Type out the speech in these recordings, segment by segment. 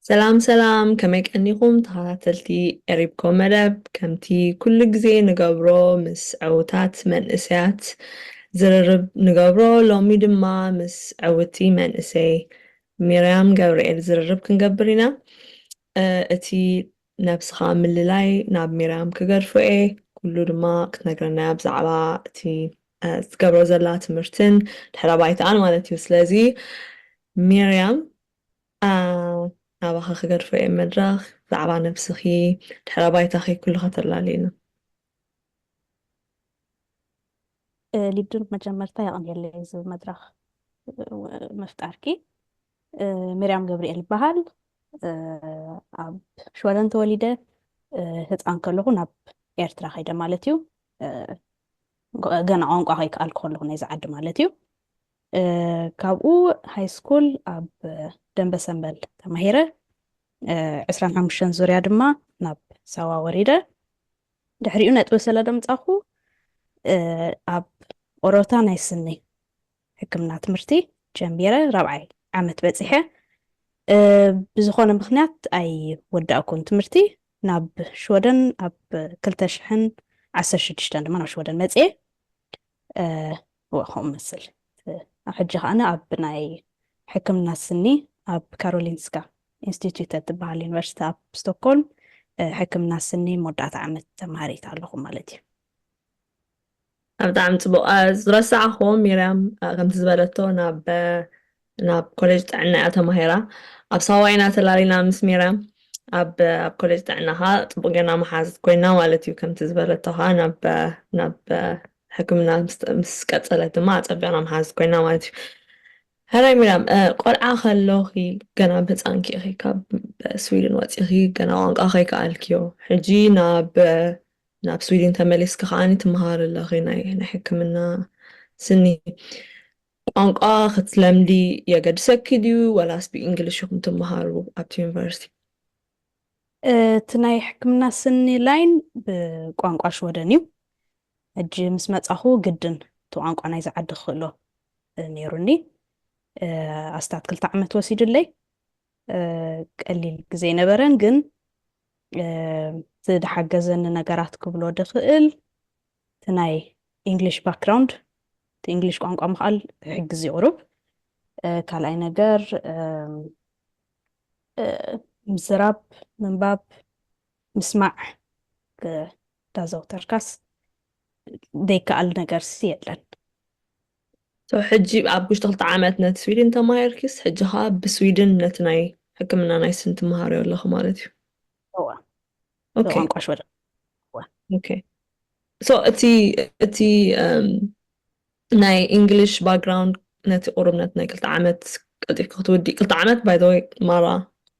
ሰላም ሰላም ከመይ ቀኒኹም ተኸታተልቲ ኤሪብኮ መደብ ከምቲ ኩሉ ግዜ ንገብሮ ምስ ዕውታት መንእሰያት ዝርርብ ንገብሮ ሎሚ ድማ ምስ ዕውቲ መንእሰይ ሚርያም ገብርኤል ዝርርብ ክንገብር ኢና እቲ ነብስኻ ምልላይ ናብ ሚርያም ክገድፎ እየ ኩሉ ድማ ክትነግረና እያ ብዛዕባ እቲ ትገብሮ ዘላ ትምህርትን ድሕረ ባይታኣን ማለት እዩ ስለዚ ሚርያም ናባኻ ክገድፎ እየ መድረኽ ብዛዕባ ነብስኺ ድሕረ ባይታኺ ኩሉ ከተላልይና ሊዱ መጀመርታ የቕንየለይ እዚ መድረኽ ምፍጣርኪ። ሚርያም ገብርኤል ይበሃል ኣብ ሽወደን ተወሊደ ህፃን ከለኹ ናብ ኤርትራ ከይደ ማለት እዩ ገና ቋንቋ ከይከኣልኩ ከለኹ ናይዚ ዓዲ ማለት እዩ ካብኡ ሃይስኩል ኣብ ደንበሰንበል ተማሂረ። ዕስራን ሓሙሽተን ዙርያ ድማ ናብ ሳዋ ወሪደ። ድሕሪኡ ነጥቢ ስለ ደምጻኹ ኣብ ኦሮታ ናይ ስኒ ሕክምና ትምህርቲ ጀሚረ ራብዓይ ዓመት በጺሐ። ብዝኾነ ምኽንያት ኣይወዳእኩን ትምህርቲ። ናብ ሽወደን ኣብ ክልተ ሽሕን ዓሰርተ ሽዱሽተን ድማ ናብ ሽወደን መጽኤ። እወ ከምኡ እመስል። ኣብ ሕጂ ከኣ ኣብ ናይ ሕክምና ስኒ ኣብ ካሮሊንስካ ኢንስቲትዩተ እትበሃል ዩኒቨርሲቲ ኣብ ስቶክሆልም ሕክምና ስኒ መወዳእታ ዓመት ተምሃሪት ኣለኹ ማለት እዩ። ብጣዕሚ ጽቡቕ። ዝረሳዕክዎ ሚርያም ከምቲ ዝበለቶ ናብ ናብ ኮሌጅ ጥዕና እያ ተማሂራ። ኣብ ሳዋ ኢና ተላሊና ምስ ሚርያም። ኣብ ኣብ ኮሌጅ ጥዕና ኸኣ ጽቡቕ ጌርና መሓዙት ኮይና ማለት እዩ። ከምቲ ዝበለቶ ኸኣ ናብ ናብ ሕክምና ምስ ቀጸለት ድማ ኣጸቢቕና መሓዙት ኮይና ማለት እዩ። ሕራይ ሚርያም ቆልዓ ከሎኺ ገና ብ ህጻንኪ ኢኺ ካብ ስዊድን ወጺኺ ገና ቋንቋ ከይከኣልክዮ ሕጂ ናብ ናብ ስዊድን ተመሊስኪ ከኣ ትመሃሪ ኣለኺ ናይ ናይ ሕክምና ስኒ ቋንቋ ክትለምዲ የገድሰኪ ድዩ ወላስ ብእንግሊሽ ኢኹም ትመሃሩ ኣብቲ ዩኒቨርሲቲ? እቲ ናይ ሕክምና ስኒ ላይን ብቋንቋ ሽወደን እዩ። ሕጂ ምስ መጻኹ ግድን እቲ ቋንቋ ናይዚ ዓዲ ክኽእሎ ነይሩኒ። ኣስታት ክልተ ዓመት ወሲዱለይ። ቀሊል ግዜ ኣይነበረን ግን እቲ ዝሓገዘኒ ነገራት ክብሎ ድኽእል፣ እቲ ናይ ኢንግሊሽ ባክግራውንድ እቲ ኢንግሊሽ ቋንቋ ምኽኣል ክሕግዝ እዩ ቁሩብ ካልኣይ ነገር ምዝራብ ምንባብ ምስማዕ ዳዘውተርካስ ዘይከኣል ነገርሲ የለን ሶ ሕጂ ኣብ ውሽጢ ክልተ ዓመት ነቲ ስዊድን ተማሂርኪስ ሕጂ ከዓ ብስዊድን ነቲ ናይ ሕክምና ናይ ስኒ ትመሃርዮ ኣለኺ ማለት እዩ እወ ኦኬ ቋንቋ ሽወደ እወ። ኦኬ ሶ እቲ እቲ እም፣ ናይ እንግሊሽ ባክግራውንድ ነቲ ቁርብነት ናይ ክልተ ዓመት ቀልጢፍካ ክትውዲ ክልተ ዓመት ባይ ዘ ወይ ማራ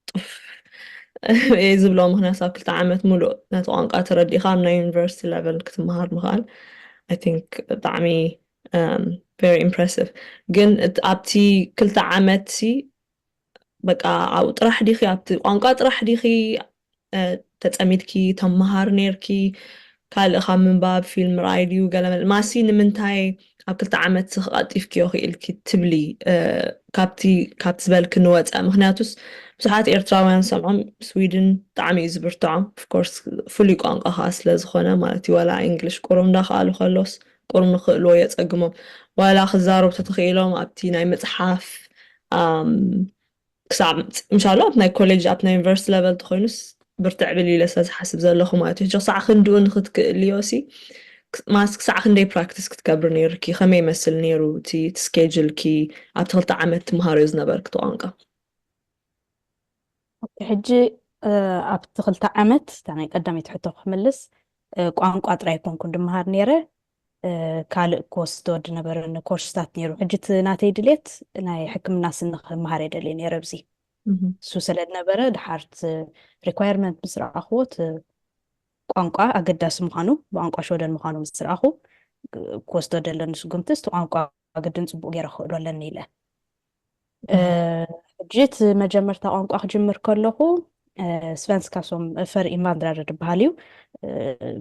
ጡፍ እየ ዝብሎ ምክንያቱ ኣብ ክልተ ዓመት ሙሉእ ነቲ ቋንቋ ተረዲእካ ኣብ ናይ ዩኒቨርሲቲ ሌቨል ክትመሃር ምኽኣል ኣይ ቲንክ ብጣዕሚ ቨሪ ኢምፕሬሲቭ ግን እት- ኣብቲ ክልተ ዓመት ሲ በቃ ኣብኡ ጥራሕ ዲኺ ኣብቲ ቋንቋ ጥራሕ ዲኺ ተጸሚድኪ ተመሃሪ ኔርኪ ካልእ ካብ ምንባብ ፊልም ምርኣይ ድዩ ገለ መልማሲ ንምንታይ ኣብ ክልተ ዓመት ስኽ ቐልጢፍክዮ ክኢልኪ ትብሊ ካብቲ ካብቲ ዝበልኪ ንወጸ ምክንያቱስ ብዙሓት ኤርትራውያን ሰምዖም ስዊድን ብጣዕሚ እዩ ዝብርትዖም ፍኮርስ ፍሉይ ቋንቋ ከዓ ስለ ዝኾነ ማለት እዩ ወላ እንግሊሽ ቁሩብ እንዳኸኣሉ ከሎስ ቁሩብ ንኽእልዎ የጸግሞም ዋላ ክዛረቡ ተተኺኢሎም ኣብቲ ናይ ምጽሓፍ ክሳብ እንሻላ ኣብ ናይ ኮሌጅ ኣብ ናይ ዩኒቨርስቲ ለቨል ተኾይኑስ ብርትዕ ብል ኢለ ስለ ዝሓስብ ዘለኹ ማለት እዩ ሕጂ ክሳዕ ክንድኡ ንክትክእልዮ ሲ ማስ ክሳዕ ክንደይ ፕራክቲስ ክትገብሪ ነይሩኪ ከመይ ይመስል ነይሩ እቲ ስኬጅልኪ ኣብቲ ክልተ ዓመት ትምሃርዮ ዝነበርኪ ተቋንቋ ኦኬ ሕጂ ኣብቲ ክልተ ዓመት እታ ናይ ቀዳመይቲ ሕቶ ክምልስ ቋንቋ ጥራይ ኣይኮንኩን ድመሃር ነይረ ካልእ ክወስዶ ዝነበረኒ ኮርስታት ነይሩ ሕጂ እቲ ናተይ ድሌት ናይ ሕክምና ስኒ ክመሃር እየ ደልየ ነይረ ኣብዚ እሱ ስለ ዝነበረ ድሓርቲ ሪኳየርመንት ምስ ረኣኽዎ እቲ ቋንቋ ኣገዳሲ ምዃኑ ብቋንቋ ሽወደን ምዃኑ ምስ ረኣኹ ክወስዶ ደለኒ ስጉምቲ እቲ ቋንቋ ግድን ፅቡቅ ገይረ ክኽእሎ ኣለኒ ኢለ ሕጂ እቲ መጀመርታ ቋንቋ ክጅምር ከለኹ ስቨንስካ ሶም ፈር ኢንቫንድራር ድበሃል እዩ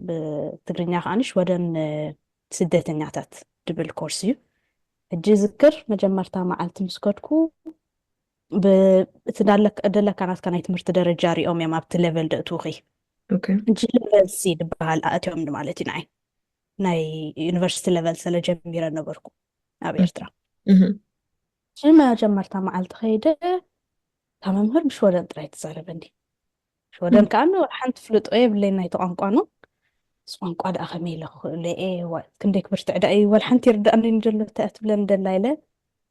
ብትግርኛ ከዓ ሽወደን ስደተኛታት ድብል ኮርስ እዩ ሕጂ ዝክር መጀመርታ መዓልቲ ምስ ከድኩ እቲ ደለካ ናትካ ናይ ትምህርቲ ደረጃ ሪኦም እዮም ኣብቲ ሌቨል ደእትውኺ ሕጂ ሌቨል ሲ ድበሃል ኣእትዮም ማለት እዩ ንዓይ ናይ ዩኒቨርሲቲ ሌቨል ስለጀሚረ ነበርኩ ናብ ኤርትራ እቲ መጀመርታ መዓልቲ ከይደ እታ መምህር ብሽወደን ጥራይ ትዛረበኒ ሽወደን ከዓ ንወላ ሓንቲ ፍልጦ የብለይ ናይቲ ቋንቋ ኑ ምስ ቋንቋ ደኣ ከመይ ኢለ ክኽእሎ እየ ክንደይ ክብርትዕ ደኣ እዩ ወላ ሓንቲ ይርዳእኒ ዘሎ እንታይ እያ ትብለኒ ደላ ኢለ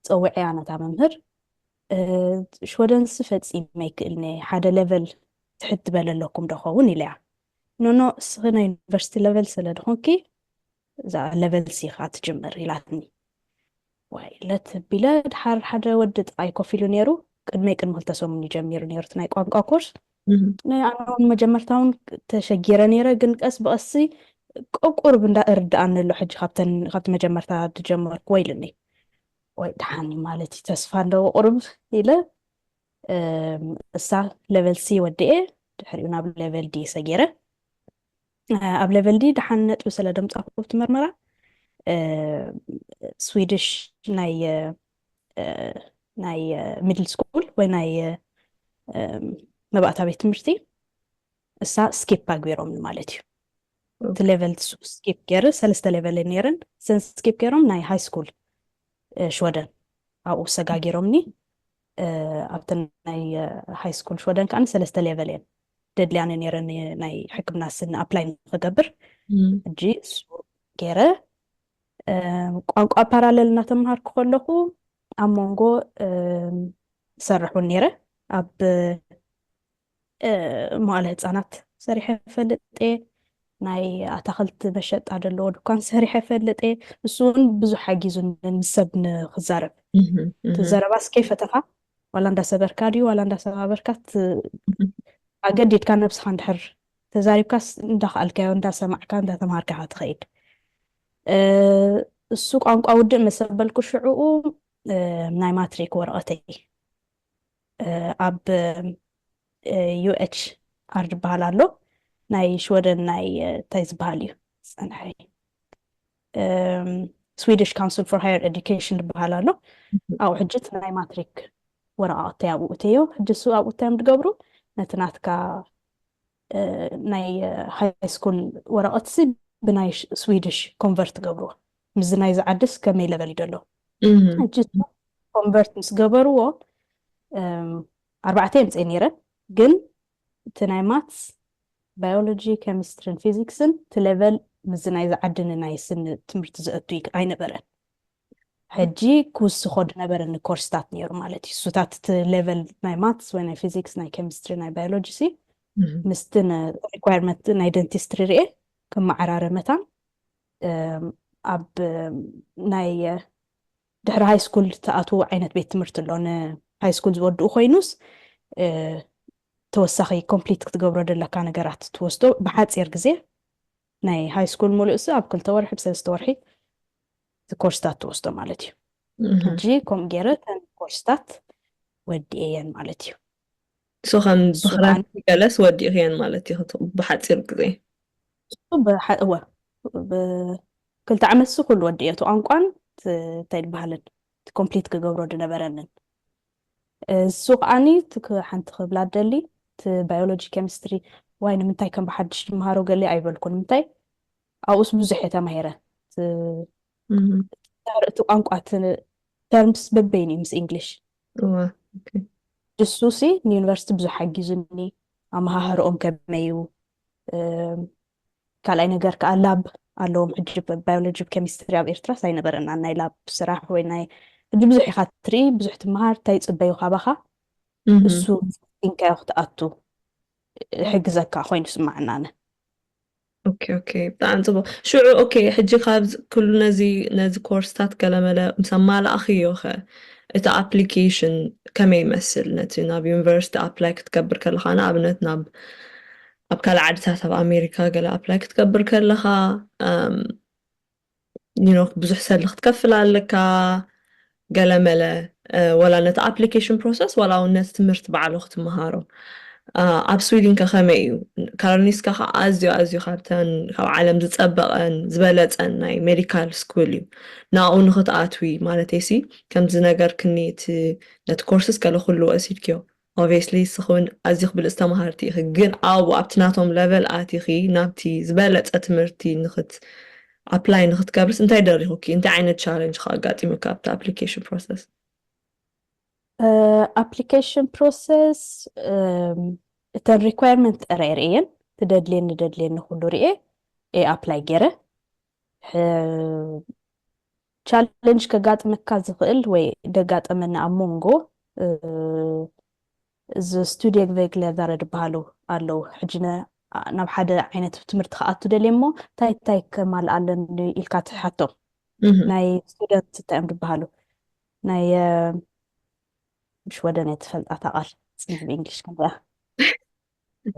ፀውዐያ ነታ መምህር ሽወደንሲ ፈፂመ ይክእልኒ ሓደ ሌቨል ትሕት ዝበለ ኣለኩም ዶ ኸውን ኢለያ ኖኖ እስኺ ናይ ዩኒቨርሲቲ ሌቨል ስለ ድኾንኪ እዛ ለበልሲ ኢኻ ትጅምር ኢላትኒ ዋይ ለት ቢለ ድሓር ሓደ ወዲ ጥቃይ ኮፍ ኢሉ ነይሩ ቅድመይ ቅድሚ ክልተ ሰሙን እዩ ጀሚሩ ነይሩ ናይ ቋንቋ ኮርስ ኣነውን መጀመርታውን ተሸጊረ ነይረ ግን ቀስ ብቀሲ ቆቁርብ እንዳ እርድኣኒ ኣሎ ሕጂ ካብቲ መጀመርታ ድጀመርኩ ወይ ኢልኒ ወይ ድሓኒ ማለት እዩ ተስፋ ኣለዎ ቁርብ ኢለ እሳ ሌቨል ሲ ወዲኤ ድሕሪኡ ናብ ሌቨል ዲ ሰጊረ ኣብ ለቨል ዲ ደሓን ነጥቢ ስለ ደምፃኹ ኣብቲ መርመራ ስዊድሽ ናይ ናይ ሚድል ስኩል ወይ ናይ መባእታ ቤት ትምህርቲ እሳ ስኪፕ ኣግቢሮም ማለት እዩ እቲ ሌቨል ስኪፕ ገይር ሰለስተ ሌቨል ነይረን እዘን ስኪፕ ገይሮም ናይ ሃይ ስኩል ሽወደን ኣብኡ ሰጋጊሮምኒ ኣብቲ ናይ ሃይስኩል ሽወደን ከዓኒ ሰለስተ ሌቨል እየን ደድልያኒ ነይረኒ ናይ ሕክምና ስኒ ኣፕላይ ንክገብር ሕጂ እሱ ገይረ ቋንቋ ፓራለል እናተምሃርኩ ከለኹ ኣብ መንጎ ዝሰርሕ እውን ነይረ ኣብ መዋእለ ህፃናት ሰሪሐ ፈልጥ እየ ናይ ኣታክልቲ መሸጣ ዘለዎ ድኳን ሰሪሐ ፈልጥ እየ ንሱ እውን ብዙ ሓጊዙን ምስ ሰብ ንክዛረብ እቲ ዘረባ እስከ ፈተኻ ዋላ እንዳሰበርካ ድዩ ዋላ እንዳሰባበርካ ኣገዲድካ ነብስኻ እንድሕር ተዛሪብካስ እንዳክኣልካዮ እንዳሰማዕካ እንዳተምሃርካ ኢኻ ትኸይድ እሱ ቋንቋ ውድእ መሰበልኩ ሽዕኡ ናይ ማትሪክ ወረቐተይ ኣብ ዩኤች ኣር ዝበሃል ኣሎ ናይ ሽወደን ናይ እንታይ ዝበሃል እዩ ፀንሐ ስዊዲሽ ካውንስል ፎር ሃየር ኤዱኬሽን ዝበሃል ኣሎ ኣብኡ ሕጂ እቲ ናይ ማትሪክ ወረቃቅተይ ኣብኡ እተዮ ሕጂ እሱ ኣብኡ እታዮም ዝገብሩ ነቲ ናትካ ናይ ሃይስኩል ወረቀትሲ ብናይ ስዊድሽ ኮንቨርት ገብርዎ ምስዚ ናይዚ ዓድስ ከመይ ለበል እዩ ደሎ እጅ ኮንቨርት ምስ ገበርዎ ኣርባዕተ የምፀ ነይረ ግን እቲ ናይ ማትስ ባዮሎጂ ኬሚስትሪን ፊዚክስን እቲ ለቨል ምስዚ ናይዚ ዓድን ናይ ስኒ ትምህርቲ ዘእቱ ኣይነበረን ሕጂ ክውስኾ ድነበረኒ ኮርስታት ነይሩ ማለት እዩ እሱታት እቲ ሌቨል ናይ ማትስ ወይ ናይ ፊዚክስ ናይ ኬሚስትሪ ናይ ባዮሎጂ ሲ ምስቲ ሪኳርመንት ናይ ደንቲስትሪ ርኤ ክመዓራረ መታን ኣብ ናይ ድሕሪ ሃይ ስኩል ተኣትዉ ዓይነት ቤት ትምህርቲ ኣሎ ንሃይ ስኩል ዝወድኡ ኮይኑስ ተወሳኺ ኮምፕሊት ክትገብሮ ዘለካ ነገራት ትወስዶ ብሓፂር ግዜ ናይ ሃይ ስኩል ሙሉእሲ ኣብ ክልተ ወርሒ ብሰለስተ ወርሒ እቲ ኮርስታት ትወስዶ ማለት እዩ ሕጂ ከምኡ ገይረ እተን ኮርስታት ወዲኤየን ማለት እዩ እሱ ከም ብክራት ገለስ ወዲእኽየን ማለት እዩ ብሓፂር ግዜ እወ ብክልተ ዓመት እሱ ኩሉ ወዲእዮ እቲ ቋንቋን እንታይ ዝበሃልን እቲ ኮምፕሊት ክገብሮ ዝነበረንን እሱ ከዓኒ ሓንቲ ክብላ ደሊ እቲ ባዮሎጂ ኬሚስትሪ ዋይ ንምንታይ ከም ብሓድሽ ድምሃሮ ገሊ ኣይበልኩ ንምንታይ ኣብኡስ ብዙሕ እየ ተማሂረ እቲ ቋንቋ ተርምስ በበይን እዩ ምስ እንግሊሽ ንሱ ሲ ንዩኒቨርሲቲ ብዙሕ ሓጊዙኒ ኣመሃህርኦም ከመይ እዩ ካልኣይ ነገር ከዓ ላብ ኣለዎም ሕጂ ባዮሎጂ ኬሚስትሪ ኣብ ኤርትራ ሳይነበረና ናይ ላብ ስራሕ ወይ ናይ ሕጂ ብዙሕ ኢካ ትርኢ ብዙሕ ትመሃር እንታይ ይፅበዩ ካባካ እሱ ንካዮ ክትኣቱ ሕግዘካ ኮይኑ ስማዕናነ ኦኬ ኦኬ ብጣዕሚ ጽቡቅ ሽዑ ኦኬ ሕጂ ካብዚ ኩሉ ነዚ ነዚ ኮርስታት ገለመለ ምስ ኣማላእኽዮ ከ እቲ ኣፕሊኬሽን ከመይ ይመስል ነቲ ናብ ዩኒቨርሲቲ ኣፕላይ ክትገብር ከለኻ ንኣብነት ናብ ኣብ ካልእ ዓድታት ኣብ ኣሜሪካ ገለ ኣፕላይ ክትገብር ከለኻ ብዙሕ ሰልዲ ክትከፍል ኣለካ ገለመለ ወላ ነቲ ኣፕሊኬሽን ፕሮሰስ ወላ እውን ነቲ ትምህርቲ ባዕሉ ክትምሃሮ ኣብ ስዊድን ከ ከመይ እዩ ካሮሊንስካ ከዓ ኣዝዩ ኣዝዩ ካብተን ካብ ዓለም ዝፀበቐን ዝበለፀን ናይ ሜዲካል ስኩል እዩ ንኣኡ ንክትኣትዊ ማለት ሲ ከምዚ ነገር ክኒ እቲ ነቲ ኮርስስ ገለ ኩሉ ወሲድክዮ Obviously ንስኺ ውን ኣዚኺ ብልጽቲ ተማሃርቲ ኢኺ ግን ኣብኡ ኣብቲ ናቶም ለቨል ኣቲኺ ናብቲ ዝበለጸ ትምህርቲ ንኽት ኣፕላይ ንኽትገብርስ እንታይ ደሪኹኪ እንታይ ዓይነት ቻለንጅ ከ ኣጋጢሙኪ ኣብቲ ኣፕሊኬሽን ፕሮሰስ? ኣፕሊኬሽን ፕሮሰስ እተን ሪኳየርመንት ጥራይ ርእየን ትደድልየኒ ደድልየኒ ኩሉ ርኤ ኣፕላይ ገይረ ቻለንጅ ከጋጥመካ ዝኽእል ወይ ደጋጠመና ኣብ ሞንጎ እዚ ስቱድየግ ቬግለ ዛረ ድበሃሉ ኣለዉ ሕጂ ናብ ሓደ ዓይነት ትምህርቲ ክኣቱ ደልየ እሞ እንታይ እንታይ ከማልእ ኣለኒ ኢልካ ትሓቶም ናይ ስቱደንት እንታይ እዮም ድበሃሉ ናይ ምሽ ወደን እየ ትፈልጣታ ቃል ፅንሕ ብእንግሊሽ ከምዚኣ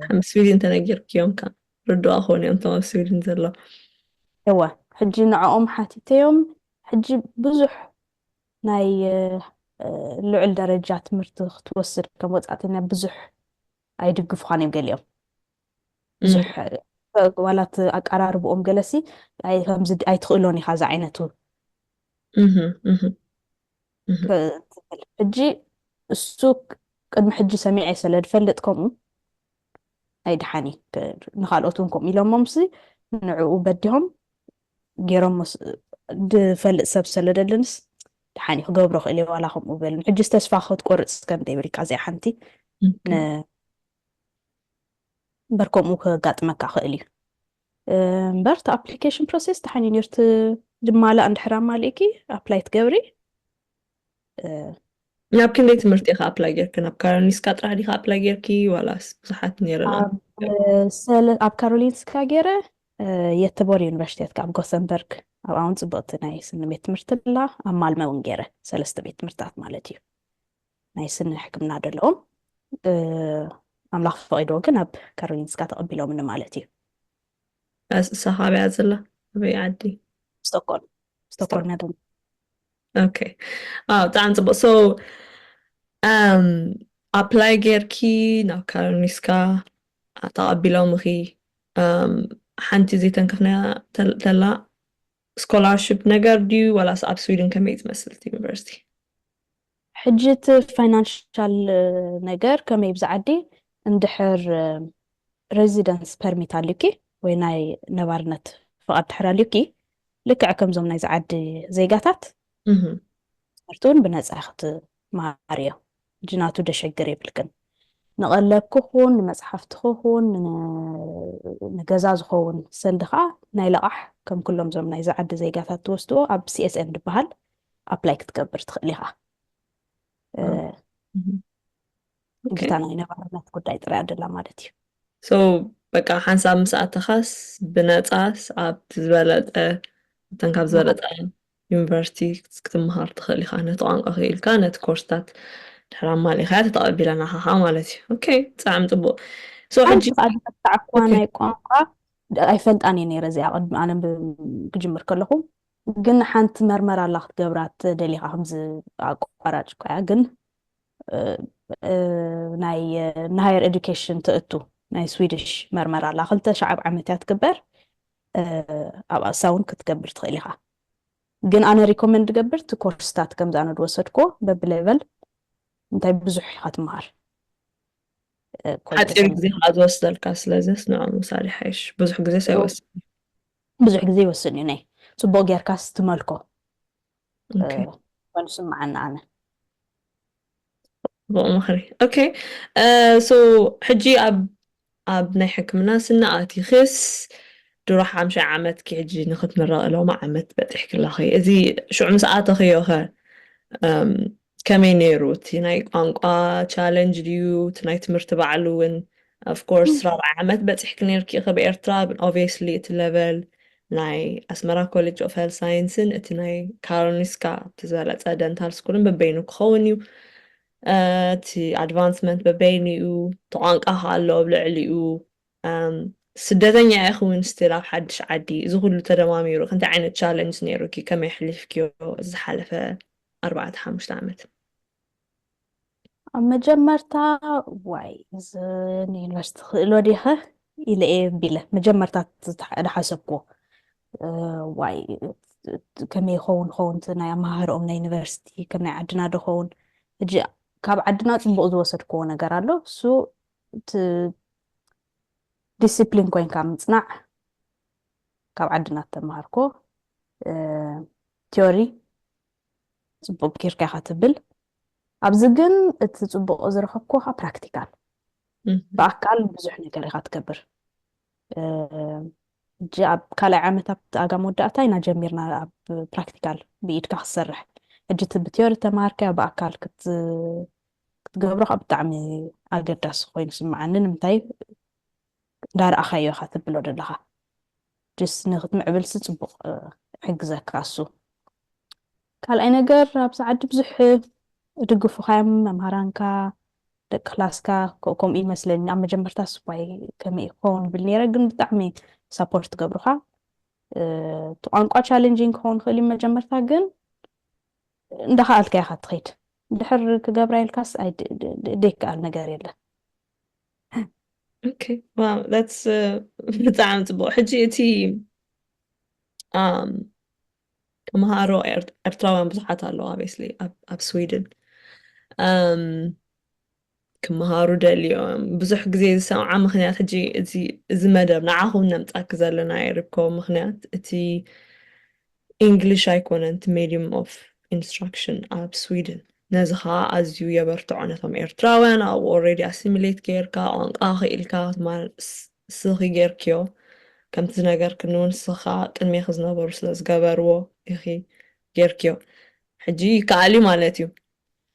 ኣብ ስዊድን ተነጊርክዮም ከ ርዱኣ ክኾኑ እዮም እቶም ኣብ ስዊድን ዘሎ እወ ሕጂ ንዕኦም ሓቲተዮም ሕጂ ብዙሕ ናይ ልዑል ደረጃ ትምህርቲ ክትወስድ ከም ወፃእተኛ ብዙሕ ኣይድግፉኻን እዮም ገሊኦም ብዙሕ ዋላት ኣቀራርብኦም ገለሲ ከምዚ ኣይትኽእሎን ኢኻ ዝዓይነቱ ትብል ሕጂ እሱ ቅድሚ ሕጂ ሰሚዐ ስለ ድፈልጥ ከምኡ ኣይድሓን እዩ ንካልኦት እውን ከምኡ ኢሎሞም ሲ ንዕኡ በዲሆም ገይሮሞ ድፈልጥ ሰብ ስለደልንስ ድሓን እዩ ክገብሮ ክእል እየ ዋላ ከምኡ በልን ሕጂ ተስፋ ክትቆርፅ ከም ዘይብልካ እዚኣ ሓንቲ እምበር ከምኡ ከጋጥመካ ክእል እዩ እምበር እቲ ኣፕሊኬሽን ፕሮሴስ ተሓኒን እዩ እቲ ዝማላእ እንድሕር ኣማሊእኪ ኣፕላይ ትገብሪ ናብ ክንደይ ትምህርቲ ኢኻ ኣፕላይ ጌርኪ ናብ ካሮሊንስካ ጥራሕ ዲኻ ኣፕላይ ጌርኪ ዋላስ ብዙሓት ነይረና ኣብ ካሮሊንስካ ገይረ የተቦር ዩኒቨርሲቲ የትካ ኣብ ጎሰንበርግ ኣብ ኣውን ፅብቕቲ ናይ ስኒ ቤት ትምህርቲ ላ ኣብ ማልመ እውን ገይረ ሰለስተ ቤት ትምህርትታት ማለት እዩ ናይ ስኒ ሕክምና ደለዎም ኣምላኽ ፈቒድዎ ግን ኣብ ካሮሊንስካ ተቐቢሎምኒ ማለት እዩ። እሳ ካበያ ዘላ ኣበይ ዓዲ? ስቶኮልም ስቶኮልም ያደ ኦኬ ኣው ብጣዕሚ ፅቡቅ ሶ ኣፕላይ ጌርኪ ናብ ካሮሊንስካ ተቐቢሎምኺ ሓንቲ ዘይተንከፍናያ ተላ ስኮላርሽፕ ነገር ድዩ ዋላስ ኣብ ስዊድን ከመይ ዝመስል ዩኒቨርሲቲ? ሕጂ እቲ ፋይናንሻል ነገር ከመይ እብዚ ዓዲ እንድሕር ረዚደንስ ፐርሚት ኣልዩኪ ወይ ናይ ነባርነት ፍቓድ ድሕር ኣልዩኪ ልክዕ ከምዞም ናይዚ ዓዲ ዜጋታት ትምህርቲ እውን ብነፃ ክትመሃርዮ ሕጂ ናቱ ደሸግር የብልክን ንቐለብኪ ኹን ንመፅሓፍትኺ ኹን ንገዛ ዝኸውን ሰንዲ ከዓ ናይ ለቓሕ ከም ኩሎም ዞም ናይዚ ዓዲ ዜጋታት ትወስድዎ ኣብ ሲኤስኤን ድበሃል ኣፕላይ ክትገብር ትኽእል ኢኻ ግታ ናይ ነባርነት ጉዳይ ጥራይ ኣደላ ማለት እዩ ሶ በቃ ሓንሳብ ምስ ኣተኻስ ብነፃስ ኣብቲ ዝበለጠ እተን ካብ ዝበለጠ ዩኒቨርሲቲ ክትምሃር ትኽእል ኢኻ ነቲ ቋንቋ ክኢልካ ነቲ ኮርስታት ድሕር ኣማሊኻያ ተተቐቢለናኻ ኸዓ ማለት እዩ ኦኬ ብጣዕሚ ፅቡቅ ሓንቲ ከዓ ዝፈታዕኩዋ ናይ ቋንቋ ኣይፈልጣን እየ ነይረ እዚኣ ቅድሚ ኣነ ክጅምር ከለኹ ግን ሓንቲ መርመራ ኣላ ክትገብራ ደሊኻ ከምዚ ኣቋራጭ እኳ እያ ግን ናይ ንሃየር ኤዱኬሽን ተእቱ ናይ ስዊድሽ መርመራ ኣላ ክልተ ሸዓብ ዓመት እያ ትግበር ኣብ ኣሳ እውን ክትገብር ትኽእል ኢኻ ግን ኣነ ሪኮመንድ ገብር እቲ ኮርስታት ከምዚ ኣነ ዝወሰድኮ በብሌቨል እንታይ ብዙሕ ኢኻ ትምሃር ሓፂር ግዜ ከዓ ዝወስደልካ ስለዘስ ንዖም ምሳሌ ሓይሽ ብዙሕ ግዜ ሳይወስድ ብዙሕ ግዜ ይወስድ እዩ ነይ ጽቡቅ ጌርካ ስትመልኮ ኮይኑ ስምዓኒ ኣነ። ጽቡቅ ምኽሪ ኦኬ ሶ ሕጂ ኣብ ኣብ ናይ ሕክምና ስኒ ኣቲኽስ ድሮ ሓምሻይ ዓመትኪ ሕጂ ንኽትምረቂ ሎሚ ዓመት በጺሕኪ ኣለኺ እዚ ሽዑ ምስ ኣተኽዮ ከ ከመይ ነይሩ እቲ ናይ ቋንቋ ቻለንጅ ድዩ እቲ ናይ ትምህርቲ ባዕሉ ውን of course ራብዓይ ዓመት በጺሕኪ ነይርኪ ኢኺ ብኤርትራ ግን obviously እቲ level ናይ ኣስመራ ኮሌጅ ኦፍ ሄልዝ ሳይንስን እቲ ናይ ካሮሊንስካ እቲ ዝበለጸ ደንታል ስኩልን በበይኑ ክኸውን እዩ እቲ ኣድቫንስመንት በበይኑ እዩ እቲ ቋንቋ ከዓ ኣሎ ኣብ ልዕሊኡ ስደተኛ ኢኺ ውን ስቲል ኣብ ሓድሽ ዓዲ እዚ ኩሉ ተደማሚሩ ክንታይ ዓይነት ቻለንጅ ነይሩኪ ከመይ ኣሕሊፍክዮ ዝሓለፈ ኣርባዕተ ሓሙሽተ ዓመት። ኣብ መጀመርታ ዋይ እዚ ንዩኒቨርሲቲ ክእሎ ዲኸ ኢለ እየ ቢለ መጀመርታ ዝሓሰብኩዎ ዋይ ከመይ ይኸውን ኸውን እቲ ናይ ኣመሃህርኦም ናይ ዩኒቨርሲቲ ከም ናይ ዓድና ዶ ኸውን ሕጂ ካብ ዓድና ፅቡቅ ዝወሰድክዎ ነገር ኣሎ እሱ ዲስፕሊን ኮይንካ ምፅናዕ ካብ ዓድና ተምሃርኮ ቲዮሪ ጽቡቅ ጌርካ ኢኻ ትብል ኣብዚ ግን እቲ ጽቡቅ ዝረኸብኩዎ ከኣ ፕራክቲካል ብኣካል ብዙሕ ነገር ኢኻ ትገብር ሕጂ ኣብ ካልኣይ ዓመት ኣብቲ ኣጋ መወዳእታ ኢና ጀሚርና ኣብ ፕራክቲካል ብኢድካ ክትሰርሕ ሕጂ እቲ ብቲዮሪ ተማሃርከዮ ብኣካል ክትገብሮ ካብ ብጣዕሚ ኣገዳሲ ኮይኑ ስምዓኒ ንምንታይ እንዳረኣኻዮ ኢኻ ትብሎ ዘለኻ ጅስ ንክትምዕብልሲ ጽቡቅ ይሕግዘካ እሱ። ካልኣይ ነገር ኣብዚ ዓዲ ብዙሕ ድግፉካዮም መምሃራንካ ደቂ ክላስካ ከምኡ እዩ መስለኒ ኣብ መጀመርታ ስባይ ከመይ ክኸውን ይብል ነይረ ግን ብጣዕሚ ሳፖርት ትገብሩካ እቲ ቋንቋ ቻሌንጂንግ ክኸውን ክእል እዩ መጀመርታ ግን እንዳኸኣልካ ኢኻ ትኸይድ ድሕር ክገብራ ኢልካስ ዘይከኣል ነገር የለን ኦኬ ዋው ዳትስ ብጣዕሚ ፅቡቅ ሕጂ እቲ ተምሃሮ ኤርትራውያን ብዙሓት ኣለዉ ኣቤስሊ ኣብ ስዊድን ክምሃሩ ደልዮም ብዙሕ ግዜ ዝሰምዓ ምክንያት ሕጂ እዚ መደብ ንዓኹም ነምፃኪ ዘለና ይርከቡ ምክንያት እቲ ኢንግሊሽ ኣይኮነን እቲ ሜድዩም ኦፍ ኢንስትራክሽን ኣብ ስዊድን። ነዚ ከኣ ኣዝዩ የበርትዖ ነቶም ኤርትራውያን ኣብኡ ኦሬዲ ኣሲሚሌት ጌርካ ቋንቋ ክኢልካ ክትማር እስኺ ጌርክዮ ከምቲ ዝነገርክኒ ውን እስኺ ከኣ ቅድሜኺ ዝነበሩ ስለ ዝገበርዎ ኢኺ ጌርክዮ ሕጂ ይከኣል እዩ ማለት እዩ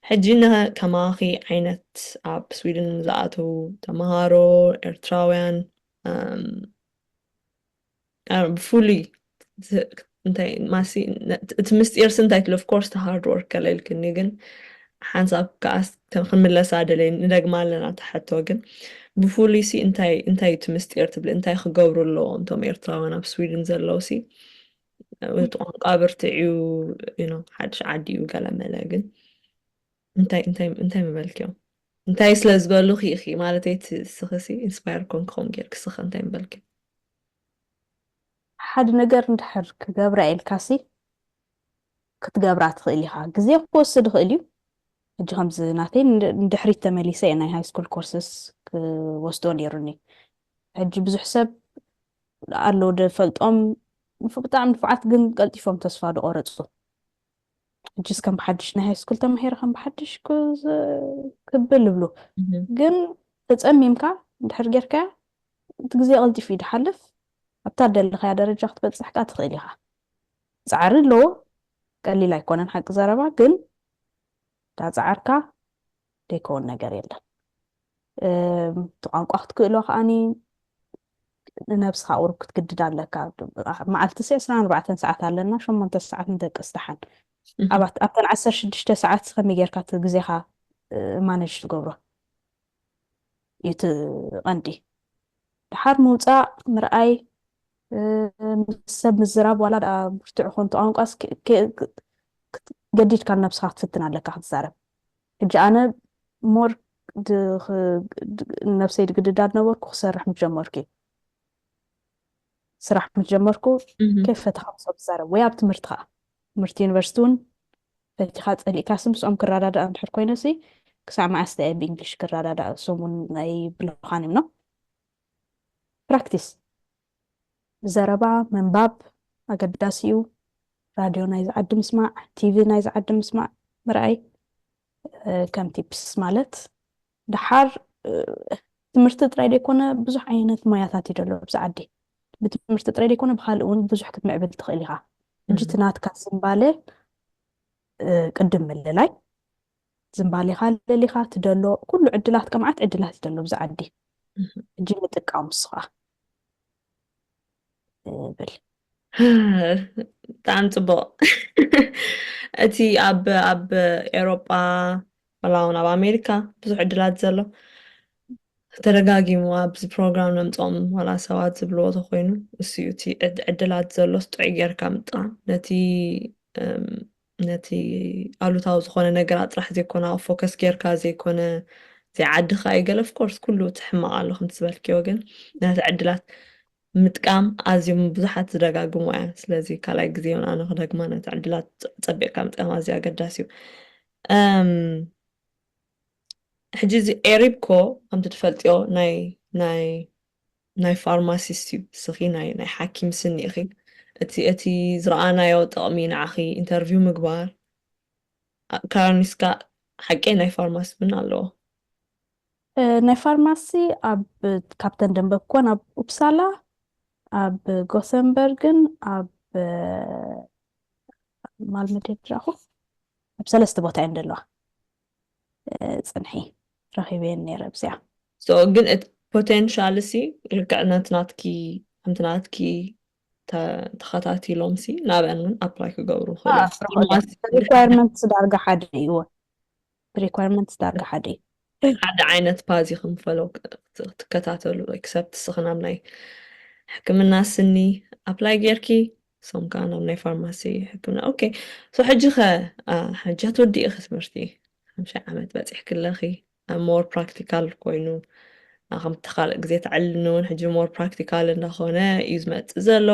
ሕጂ ን ከማኺ ዓይነት ኣብ ስዊድን ንዝኣተዉ ተማሃሮ ኤርትራውያን እም ብፍሉይ እንታይ ማሲ እቲ ምስጢርሲ እንታይ ትሎ ኮርስ ሃርድ ወርክ ከለ ኢልክኒ ግን ሓንሳብ ከዓ ክንምለሳ ደለይ ንደግማ ኣለና ተሓቶ ግን ብፍሉይ ሲ እንታይ እንታይ እቲ ምስጢር ትብሊ እንታይ ክገብሩ ኣለዎም እቶም ኤርትራውያን ኣብ ስዊድን ዘለዉ ሲ እቲ ቋንቋ ብርትዕዩ ሓድሽ ዓዲ እዩ ገለመለ ግን እንታይ እንታይ እንታይ ምበልክዮም እንታይ ስለ ዝበሉኺ ኢኺ ማለተይ እቲ እስኺሲ ኢንስፓየር ኮንኪ ከምኡ ጌርኪ እስኺ ከ እንታይ ምበልኪ? ሓደ ነገር እንድሕር ክገብራ ኢልካሲ ክትገብራ ትኽእል ኢኻ። ግዜ ክወስድ ይኽእል እዩ። ሕጂ ከምዚ ናተይ ንድሕሪት ተመሊሰ እየ ናይ ሃይስኩል ኮርስስ ክወስዶ ነይሩኒ። ሕጂ ብዙሕ ሰብ ኣሎ ድፈልጦም ብጣዕሚ ንፉዓት ግን ቀልጢፎም ተስፋ ዝቖረጹ ሕጅስ ከም ብሓድሽ ናይ ሃይስኩል ተማሂረ ከም ብሓድሽ ክብል ይብሉ ግን ተፀሚምካ ድሕር ጌርካያ እቲ ግዜ ቀልጢፉ እዩ ድሓልፍ ኣብታ ደለኻያ ደረጃ ክትበፅሕ ከዓ ትኽእል ኢኻ ፃዕሪ ኣለዎ ቀሊል ኣይኮነን ሓቂ ዘረባ ግን ዳፃዓርካ ደይከውን ነገር የለን እቲ ቋንቋ ክትክእሎ ከዓኒ ንነብስኻ ቁሩብ ክትግድድ ኣለካ መዓልቲ ሲ ዕስራን ኣርባዕተን ሰዓት ኣለና ሸሞንተ ሰዓት ንደቅስ ደሓን ኣባት ኣብተን ዓሰርተ ሽዱሽተ ሰዓት ከመይ ጌርካ እቲ ግዜኻ ማነጅ ትገብሮ እዩ እቲ ቐንዲ ድሓር ምውፃእ ምርኣይ ሰብ ምዝራብ ዋላ ድኣ ብርትዕ ኮንቱ ቋንቋስ ገዲድካ ንነብስኻ ክትፍትን ኣለካ ክትዛረብ ሕጂ ኣነ ሞር ነብሰይ ድግድዳ ነበርኩ ክሰርሕ ምስ ጀመርኩ እዩ ስራሕ ምስ ጀመርኩ ከይ ፈተኻ ምስኦም ትዛረብ ወይ ኣብ ትምህርቲ ከዓ ትምህርቲ ዩኒቨርሲቲ እውን ፈቲኻ ፀሊእካሲ ምስኦም ክረዳዳእ እንድሕር ኮይነሲ ክሳዕ መዓስ ተየ ብእንግሊሽ ክረዳዳእ እሶም እውን ኣይብልኻን እዮም ፕራክቲስ ዘረባ ምንባብ ኣገዳሲ እዩ። ራድዮ ናይዚ ዓዲ ምስማዕ፣ ቲቪ ናይዚ ዓዲ ምስማዕ ምርኣይ ከም ቲፕስ ማለት ደሓር ትምህርቲ ጥራይ ዘይኮነ ብዙሕ ዓይነት ሞያታት እዩ ዘሎ ኣብዚ ዓዲ ብትምህርቲ ጥራይ ዘይኮነ ብካልእ እውን ብዙሕ ክትምዕብል ትኽእል ኢኻ ሕጂ እቲ ናትካ ዝምባለ ቅድም ምልላይ ዝምባሌኻ ለሊኻ ትደሎ ኩሉ ዕድላት ቀምዓት ዕድላት ይደሎ ብዛ ዓዲ እጂ ምጥቃሙ ንስኻ ብል ብጣዕሚ ፅቡቅ እቲ ኣብ ኣብ ኤሮጳ ወላ እውን ኣብ ኣሜሪካ ብዙሕ ዕድላት ዘሎ ተደጋጊሙ ኣብዚ ፕሮግራም ነምፆም ዋላ ሰባት ዝብልዎ ተኮይኑ እሱ እዩ እቲ ዕድላት ዘሎስ ጥዑይ ጌርካ ምጥቃም ነቲ ነቲ ኣሉታዊ ዝኾነ ነገራት ጥራሕ ዘይኮነ ኣብ ፎከስ ጌርካ ዘይኮነ ዘይዓድኻ እዩ ገለ ፍኮርስ ኩሉ እቲ ሕማቕ ኣሎ ከምቲ ዝበልክዮ ግን ነቲ ዕድላት ምጥቃም ኣዝዮም ብዙሓት ዝደጋግሙ እያ ስለዚ ካልኣይ ግዜ ውን ኣነ ክደግማ ነቲ ዕድላት ፀቢቕካ ምጥቃም ኣዝዩ ኣገዳሲ እዩ ሕጂ እዚ ኤሪብኮ ከምቲ ትፈልጥዮ ናይ ናይ ናይ ፋርማሲስት እዩ እስኺ ናይ ናይ ሓኪም ስኒ ኢኺ እቲ እቲ ዝረኣናዮ ጥቕሚ ንዓኺ ኢንተርቪው ምግባር ካራኒስካ ሓቂ ናይ ፋርማሲ ምን ኣለዎ ናይ ፋርማሲ ኣብ ካብተን ደንበብኮን ኣብ ኡፕሳላ ኣብ ጎሰንበርግን ኣብ ማልመዴ ድራኹ ኣብ ሰለስተ ቦታ እየን ደለዋ ጽንሒ ረኺበየን ኔረ ኣብዚኣ። So ግን እቲ potential ሲ ልክዕ ነቲ ናትኪ ከምቲ ናትኪ ተ ተኸታቲሎም ሲ ናብአን ውን apply ክገብሩ ይኽእሉ ኣእ እዮም። ፍረ ሆደ Mas ድሕሪ requirements ዳርጋ ሓደ እዩ እወ requirements ዳርጋ ሓደ እዩ። ሓደ ዓይነት ፓዝ ኢኹም follow ክ ክትከታተሉ except እስኺ ናብ ናይ ሕክምና ስኒ apply ጌርኪ ንሶም ከኣ ናብ ናይ ፋርማሲ ሕክምና ኦኬ ሶ ሕጂ ከ ሕጂ ኣትወዲእኺ ትምህርቲ ሓምሻይ ዓመት በፂሕኪ ኣለኺ ሞር ፕራክቲካል ኮይኑ ከምቲ ካልእ ግዜ ተዕልኒ እውን ሕጂ ሞር ፕራክቲካል እንዳኾነ እዩ ዝመፅእ ዘሎ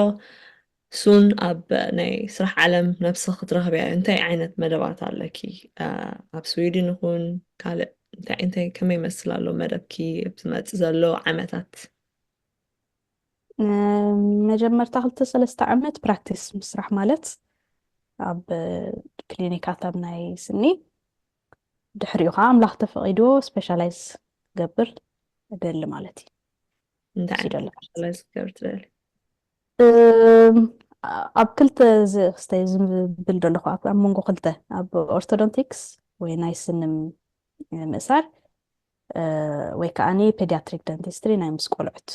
ሱን ኣብ ናይ ስራሕ ዓለም ነብሲ ክትረኽብያ እንታይ ዓይነት መደባት ኣለኪ ኣብ ስዊድን ይኹን ካልእ እንታይ እንታይ ከመይ ይመስል ኣሎ መደብኪ ዝመፅእ ዘሎ ዓመታት መጀመርታ ክልተ ሰለስተ ዓመት ፕራክቲስ ምስራሕ ማለት ኣብ ክሊኒካት ኣብ ናይ ስኒ ድሕሪኡ ከዓ ኣምላኽ ተፈቂዶ ስፔሻላይዝ ገብር እደሊ ማለት እዩ እንታይ እሱ ዓይነት ደሊ ማለት ስፔሻላይዝ ክገብር ትደሊ እም፣ ኣብ ክልተ ዝ- ክስተ ዝብል ደለኹ ኣብ ኣብ መንጎ ክልተ ኣብ ኦርቶዶንቲክስ ወይ ናይ ስኒ ም- ምእሳር ወይ ከዓ ፔዲያትሪክ ደንቲስትሪ ናይ ምስ ቆልዑት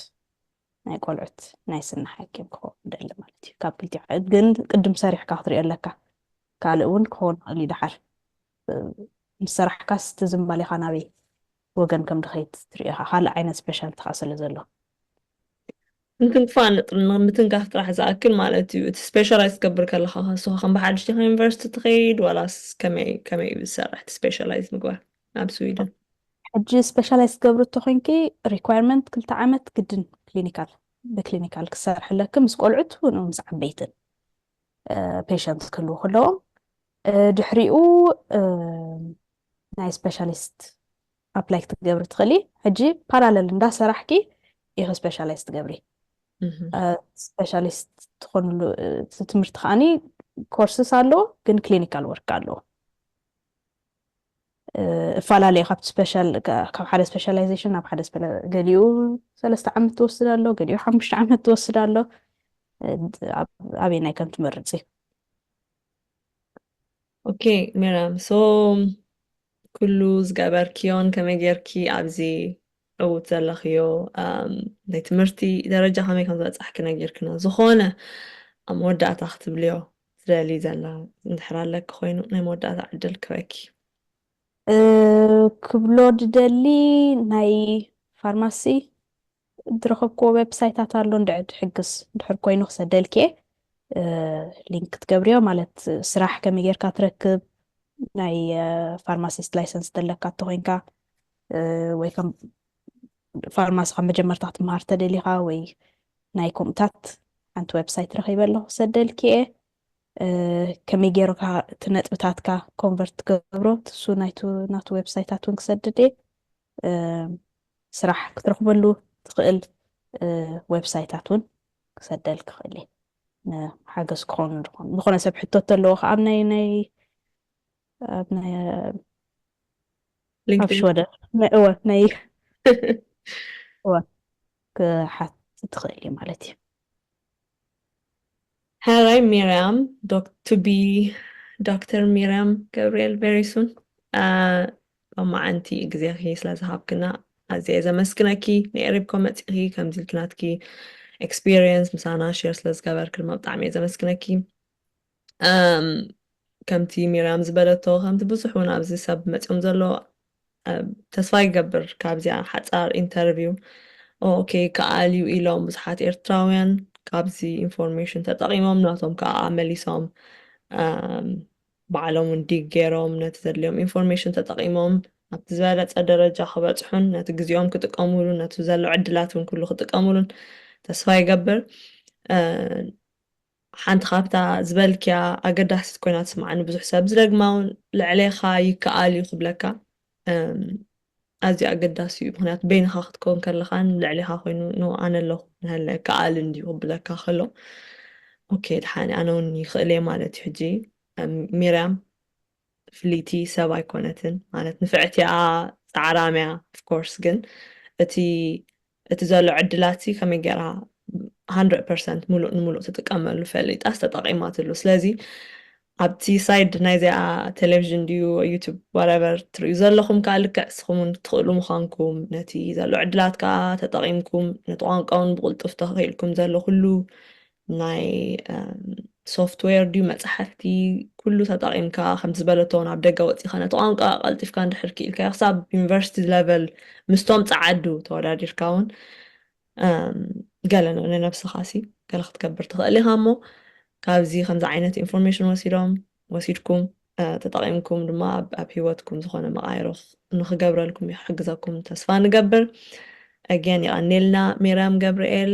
ናይ ቆልዑት ናይ ስኒ ሓኪም ክኸውን ደሊ ማለት እዩ ካብ ክልቲዮ ግን ቅድም ሰሪሕካ ክትሪኦ ኣለካ ካልእ እውን ክኸውን ይኽእል እዩ ደሓር ምስ ሰራሕካስ እቲ ዝምባሌኻ ናበይ ወገን ከም ድኸይት ትሪኦ ኢኻ ካልእ ዓይነት ስፔሻልቲ ከዓ ስለ ዘሎ ምትንክፋ ምትንካፍ ጥራሕ ዝኣክል ማለት እዩ እቲ ስፔሻላይዝ ትገብር ከለካ ከስኻ ከም ብሓድሽ ዲኻ ዩኒቨርሲቲ ትኸይድ ዋላስ ከመይ ከመይ እዩ ዝሰርሕ እቲ ስፔሻላይዝ ምግባር ናብ ስዊድን ሕጂ ስፔሻላይዝ ትገብሪ እንተኮይንኪ ሪኳርመንት ክልተ ዓመት ግድን ክሊኒካል ብክሊኒካል ክሰርሕ ኣለኪ ምስ ቆልዑት ምስ ዓበይትን ፔሸንት ክህልው ከለዎም ድሕሪኡ ናይ ስፔሻሊስት ኣፕላይ ክትገብሪ ትኽእሊ ሕጂ ፓራለል እንዳሰራሕኪ ኢኺ ስፔሻላይዝ ትገብሪ ስፔሻሊስት ትኾንሉ ትምህርቲ ከዓኒ ኮርስስ ኣለዎ ግን ክሊኒካል ወርክ ኣለዎ እፈላለዩ ካብቲ ስፔሻል ካብ ሓደ ስፔሻላይዜሽን ናብ ሓደ ገሊኡ ሰለስተ ዓመት ትወስድ ኣሎ ገሊኡ ሓሙሽተ ዓመት ትወስድ ኣሎ ኣበይ ናይ ከም ትመርፅ እዩ ኦኬ ሜርያም ሶ ኩሉ ዝገበርክዮን ከመይ ጌርኪ ኣብዚ ዕውት ዘለኽዮ ኣም፣ ናይ ትምህርቲ ደረጃ ከመይ ከም ዝበጻሕኪ ነጊርክና ዝኾነ ኣብ መወዳእታ ክትብልዮ ትደልዪ ዘላ እንድሕር ኣለኪ ኮይኑ ናይ መወዳእታ ዕድል ክበኪ እ፣ ክብሎ ድደሊ ናይ ፋርማሲ ድረኸብክዎ ዌብሳይታት ኣሎ እንድዕድ ሕግዝ ድሕር ኮይኑ ክሰደልኪየ ሊንክ ክትገብርዮ ማለት ስራሕ ከመይ ጌርካ ትረክብ ናይ ፋርማሲስት ላይሰንስ ተለካ እተኮይንካ ወይ ከም ፋርማሲ ካብ መጀመርታ ክትምሃር ተደሊኻ ወይ ናይ ከምኡታት ሓንቲ ዌብሳይት ረኺበ ኣለኹ ሰደልኪ እየ ከመይ ገይርካ እቲ ነጥብታትካ ኮንቨርት ትገብሮ ትሱ ናቱ ዌብሳይታት እውን ክሰድድ እየ ስራሕ ክትረኽበሉ ትኽእል ዌብሳይታት እውን ክሰደልክ ይኽእል እየ ሓገዝ ክኾኑ ዝኾኑ ዝኾነ ሰብ ሕቶ ተለዎ ከዓ ኣብ ናይ ናይ ኣብ ናይ ኣብ ሽወደ ናይ እወ ናይ እወ ክሓት ትኽእል እዩ ማለት እዩ ሐራይ ሚርያም ዶክ to be ዶክተር ሚርያም ገብርኤል very soon ሎማዓንቲ ግዜኺ ስለ ዝሃብክና ኣዝየ እየ ዘመስግነኪ ንኤሪብኮ መጺኺ ከምዚ ኢልኪ ናትኪ experience ምሳና share ስለ ዝገበርኪ ድማ ብጣዕሚ እየ ዘመስግነኪ ከምቲ ሚርያም ዝበለቶ ከምቲ ብዙሕ እውን ኣብዚ ሰብ መፅዮም ዘሎ ተስፋ ይገብር ካብዚኣ ሓፃር ኢንተርቪው ኦኬ ይከኣል እዩ ኢሎም ብዙሓት ኤርትራውያን ካብዚ ኢንፎርሜሽን ተጠቒሞም ናቶም ከዓ መሊሶም ባዕሎም እውን ዲግ ገይሮም ነቲ ዘድልዮም ኢንፎርሜሽን ተጠቒሞም ኣብቲ ዝበለፀ ደረጃ ክበፅሑን ነቲ ግዜኦም ክጥቀምሉ ነቲ ዘሎ ዕድላት እውን ኩሉ ክጥቀምሉን ተስፋ ይገብር ሓንቲ ካብታ ዝበልክያ ኣገዳሲት ኮይና ትስምዓኒ ብዙሕ ሰብ ዝደግማ ውን ልዕሌካ ይከኣል ዩ ክብለካ ኣዝዩ ኣገዳሲ ዩ ምክንያቱ በይንካ ክትከውን ከለካን ልዕሌካ ኮይኑ ን ኣነ ኣለኩ ንሀለ ይከኣል እንድዩ ክብለካ ከሎ ኦኬ ድሓኒ ኣነ ውን ይክእል እየ ማለት ዩ ሕጂ ሚርያም ፍልይቲ ሰብ ኣይኮነትን ማለት ንፍዕቲኣ ፃዕራምያ ኦፍኮርስ ግን እቲ እቲ ዘሎ ዕድላትሲ ከመይ ጌራ ሃንድረድ ፐርሰንት ሙሉእ ንሙሉእ ትጥቀመሉ ፈሊጣስ ተጠቒማትሉ ስለዚ ኣብቲ ሳይድ ናይ እዚኣ ቴሌቭዥን ድዩ ዩቱብ ዋረቨር ትርእዩ ዘለኹም ከዓ ልክዕ ንስኹም እውን ትኽእሉ ምዃንኩም ነቲ ዘሎ ዕድላት ከዓ ተጠቒምኩም ነቲ ቋንቋ እውን ብቕልጡፍ ተኽኢልኩም ዘሎ ኩሉ ናይ ሶፍትዌር ድዩ መፅሓፍቲ ኩሉ ተጠቒምካ ከምቲ ዝበለቶ ናብ ደገ ወፂኻ ነቲ ቋንቋ ቀልጢፍካ እንድሕር ክኢልካዮ ክሳብ ዩኒቨርሲቲ ለቨል ምስቶም ፀዓዱ ተወዳዲርካ እውን ገለ ንነብስኻ ሲ ገለ ክትገብር ትኽእል ኢኻ እሞ ካብዚ ከምዚ ዓይነት ኢንፎርሜሽን ወሲዶም ወሲድኩም ተጠቒምኩም ድማ ኣብ ሂወትኩም ዝኾነ መቃይሮ ንክገብረልኩም ይሕግዘኩም ተስፋ ንገብር ኣገን ይቐኒልና ሜርያም ገብርኤል